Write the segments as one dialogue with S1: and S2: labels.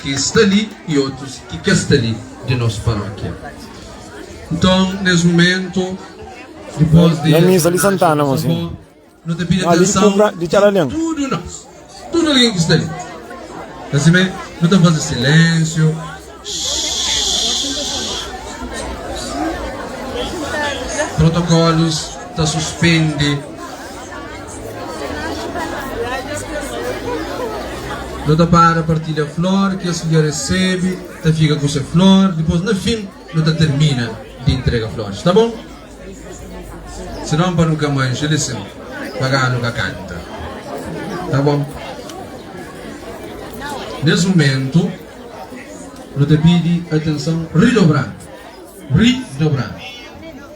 S1: ki sta li y otus ki ka sta li di nos parókia. Nton, nes mumentu, dipôs di es omenaja
S2: nos avó, nu ta pidi
S1: atenson di
S2: tudu nos,
S1: tudu algen ki sta li. Asime, nu ta faze silénsiu, shhh. Protokólus ta suspende. Nu ta para partilha flor, kes ki dja resebe ta fika ku se flor, dipôs na fin nu ta tirmina di intrega floris, ta bon? Sinon pa nu ka manxa lisin pagá nu ka kanta, ta bon? Nes mumentu nu ta pidi atenson ridobradu, ridobradu.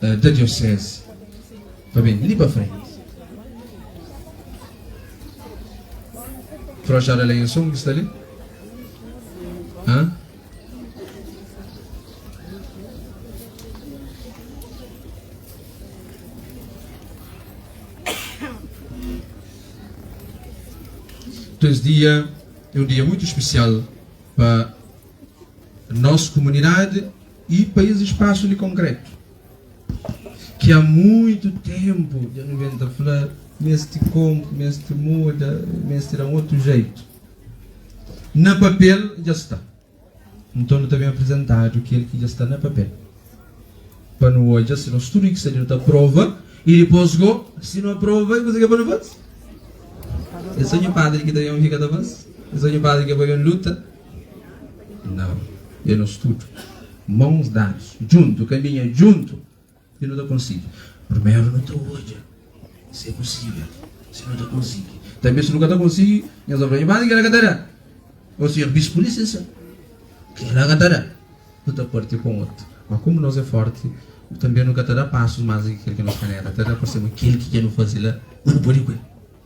S1: da diocese pa bem li pa frente. Frochada lá em som que está ali? Hã? Então, esse dia é um dia muito especial para nossa comunidade I pa es espasu di konkretu ki a muitu tenpu dja nu ben ta fla mesti konp, mesti muda, mesti da un otu jeitu, na papel dja sta. Nton nu ta ben aprizentadu kel ki dja sta na papel pa nu odja si nos tudu i ki sta li nu ta aprova i dipos go si nu aprova i kuzê ki é pa nu faze? É so nhu padri ki ta ben fika ta faze? É so nhu padri ki é pa ben luta? Nau, é nos tudu, mãos dados, djuntu, caminha djuntu i nu ta konsigi. Primeru nu ta odja si é posível, si nu ta konsigi. Tanbê si nu ka ta konsigi, nhos ta fla, Irmãs, kel-la ka ta da. Ô Sinhor Bispu, lisensa, kel-la ka ta da. Nu ta parti kon otu. Má komu nos é fórti, tanbê nu ka ta da pasus más di ki kel ki nos kanera ta da, parse ma kel ki dja nu faze la, ma nu pode ku el.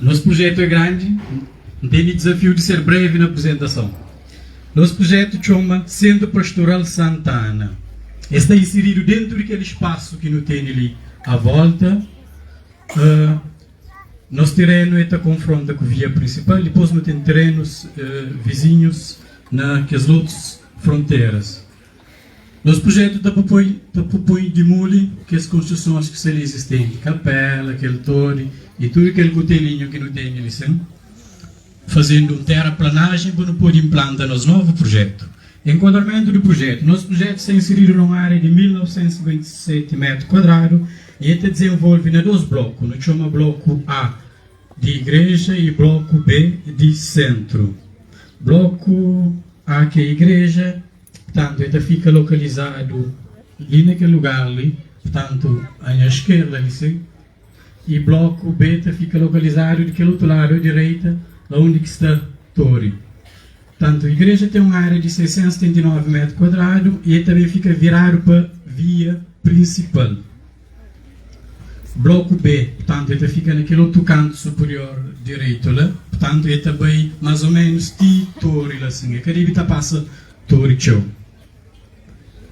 S3: Nos prujetu é grandi, N tene dizafiu di ser brevi na aprizentason. Nos prujetu txoma Centro Pastoral Santa Ana. El sta insiridu dentu di kel spasu ki nu tene li a volta. Nos terenu e ta konfronta ku via prinsipal, dipos nu ten terenus vizinhus na kes otus fronteras. Nos prujetu ta propoi pa propoi dimuli kes konstrusons ki sta li izistenti, kapela, kel tori y tudu kel kutelinhu ki nu tene li sen, fazendu un teraplanajen pa nu podi inplanta nos novu prujetu. Enkuadramentu di prujetu, Nos prujetu sta insiridu na un ária di 1.957 métru kuadradu y el ta dizenvolvi na dos bloku, nu txoma Bloku A, Di igreja y bloku B di sentru. Bloku A ke igreja, purtantu e ta fika lokalizadu li na kel lugar li, purtantu a nha skerda li sin, y bloku B ta fika lokalizadu di kel otu ladu a direita la undi ki sta tori. Purtantu igreja ten un ária di 679 métru kuadradu y e ta ben fika viradu pa via prinsipal. Bloku B, purtantu, e ta fika na kel otu kantu superior direitu la, purtantu, e ta bai mas o menus ti tori la sin, e ka debi ta pasa tori txeu.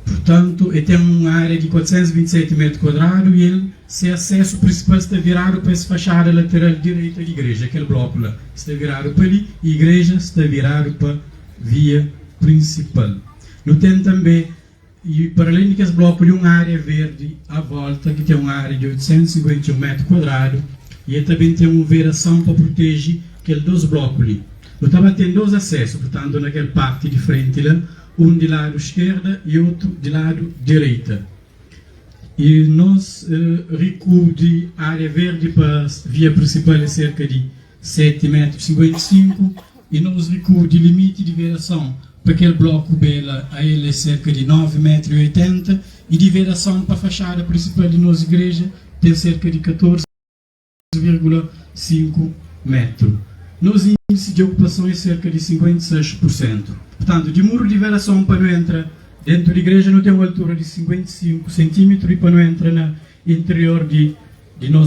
S3: Purtantu, e ten un ária di 427 métru kuadradu i el se asesu prinsipal sta viradu pa es faxada lateral direita di igreja, kel bloku la sta viradu pa li i igreja sta viradu pa via prinsipal. Nu ten tanbe. Y para alén di kes bloku di un ária verdi a volta ki ten un ária di 851 metru kuadradu y el ta ben ten un vedason pa proteji kel dos bloku li. Nu ta ba ten dos asesu, purtantu na kel parti di frenti la, un di ladu iskerda y otu di ladu direita. Y nos rikubri ária verdi pa via prinsipal é serka di 7 métrus 55 y nos rikua di limiti di verason pa kel bloku bela AL é serka di 9 métru y 80 y di verason pa faxada prinsipal di nos igreja ten serka di 14,5 métru. Nos indisi di okupason é serka di 56 pursentu. Purtantu, di muru di verason pa nu entra dentu di igreja nu ten un altura di 55 sentimitru y pa nu entra na interior di di nos